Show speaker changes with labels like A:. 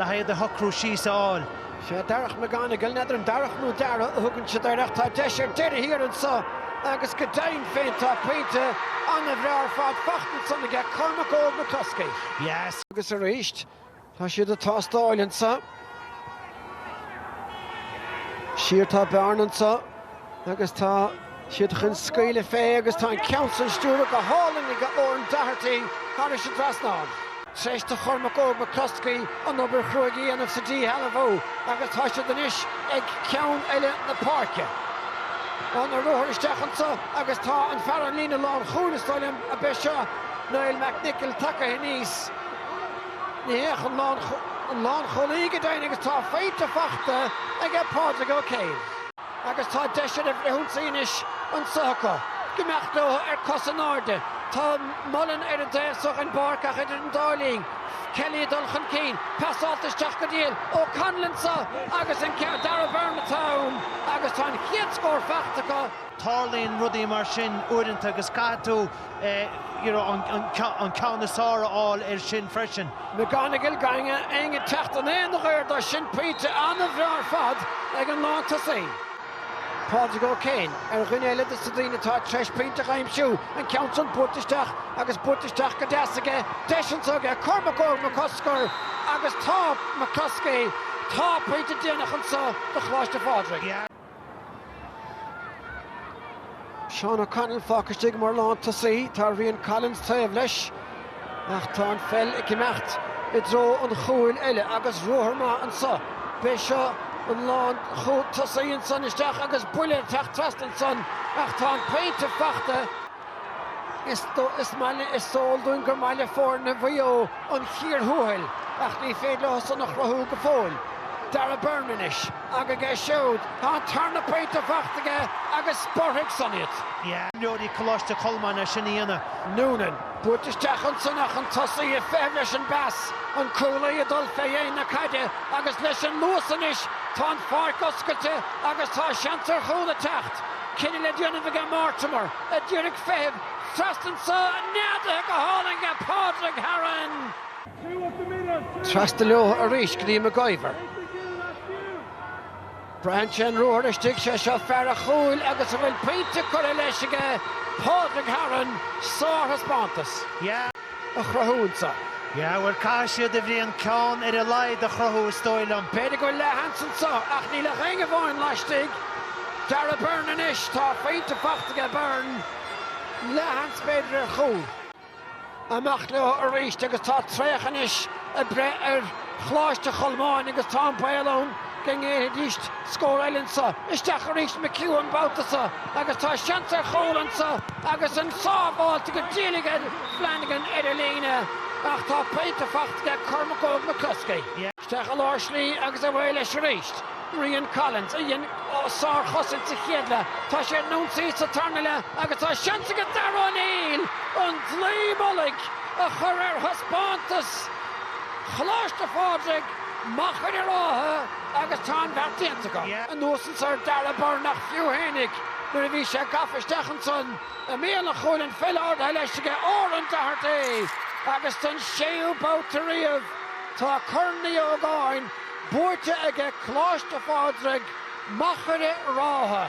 A: le haghaidh do shocrú síos a fháil. Sea, Darach
B: McGonagle, n'fheadar an Darach nó Dara a thugann siad air, ach tá deis ar deireadh thiar anso, agus go deimhin féin tá pointe an-bhreá ar fad faighte ansan aige, Cormac Óg McCluskey. Agus
A: arís,
B: tá siad ag tástáil anso. Siar tá Bearna anso. Agus tá siad chun scaoileadh fé agus tá an ceann san stiúrtha go hálainn aige Oran Doherty tharais an trasnán. Tar éis do Chormac Óg McCluskey an obair chruaidh a dhéanamh sa díshealbhú agus tá siad anois ag ceann eile na páirce. An ruathar isteach anso agus tá fear an líne lán chúil, is dóigh liom ab é seo Niall McNicholl, tagtha aníos. Ní hea, an lánchúlaí go deimhin agus tá pointe fachta aige Pádraig Ó Céin. Agus tá deis ar fhrithionsaí anois anso acu. Ag imeacht leo ar cosa in airde. Tá Mullen ar an dtaobh so den bpáirc ach idir an dá linn, Kelly ag dul chun cinn. Pasáilte isteach go diail. O'Connell anso agus an ceann. Dara Byrne atá ann agus tá an chéad scór fachta acu. Tarlaíonn rudaí
A: mar sin uaireanta agus caithfidh tú. an ceann is fearr a fháil air sin freisin. McGonagle gan
B: é ag teacht in aon ghaobhar dó san, pointe an-bhreá ar fad ag an lántosaí, Pádraig Ó Céin, ar dhuine eile des na daoine atá tar éis pointe a aimsiú, an ceann san buailte isteach agus buailte isteach go deas aige, deis anso aige, Cormac Óg McCluskey agus tá McCluskey, tá pointe déanach anso do Choláiste Phádraig. Seán O'Connell fágtha istigh mar lántosaí. Tá Rían Collins taobh leis ach tá an pheil ag imeacht i dtreo an chúil eile agus ruathar maith anso. B'é seo an lántosaí ansan isteach agus buille ag teacht trasna ansan ach tá an pointe fachta. Is eol dúinn gur maith le foirne Mhaigh Eo an chíor thuathail ach ní féidir leo san a chruthú go fóill. Dara Byrne anois. Agus aige siúd, tá an tarna pointe fachta aige agus spreagfaidh san iad. Imreoirí
A: Coláiste Cholmáin chun a sin a dhéanamh. Noonan.
B: Buailte isteach ansan ach an tosaí ag feitheamh leis an bpas. An cúlaí ag dul fé dhéin na caide agus leis an luas anois tá an pháirc oscailte agus tá seans ar chúl ag teacht. Cinneadh le déanamh aige Mortimer, atá díreach ag feitheamh trasna anso neadaithe go hálainn aige Pádraig Haran. Trasna leo arís go dtí McIver. Braitheann sé an ruathar istigh, sé seo fear a' chúil agus a bhfuil pointe curtha leis aige Pádraig Haran. Sárthaispeántas. a chruthú anso. Yeah, bhuel,
A: caithfidh siad a Bhriain ceann ar a laghad a chruthú, is dóigh liom. B'fhéidir go bhfuil leathsheans
B: anso, ach níl ach éinne amháin laistigh, Darragh Beirne anois. Tá pointe fachta aige Beirne, leathsheans b'fhéidir ar chúl. Amach leo arís agus tá traochadh anois ag breith ar Choláiste Cholmáin agus tá an baol ann, go ngéillfidís scór eile anso. Isteach arís McHugh an babhta so agus tá seans ar chúl anso agus an sábháilte go diail aige Flanagan ar an líne ach tá pointe fachta aige Cormac Óg McCloskey. Isteach i lár slí agus away leis arís Rian Collins a dhein sárchosaint sa chéad leath. Tá sé ar an ionsaí sa tarna leath agus tá seans aige Darragh O'Neill an dlaoi mhullaigh a chur ar thaispeántas Choláiste Phádraig. Machaire Rátha agus tá an bheart déanta acu. Anuas anso ar Darragh Beirne ach fiú fhéinig nuair a bhí sé gafa isteach ansan i mbéal an chúil, an pheil ardaithe leis aige Odhran Doherty agus don séú babhta riamh tá Corn Uí Ógáin buaite aige Coláiste Phádraig, Machaire Rátha.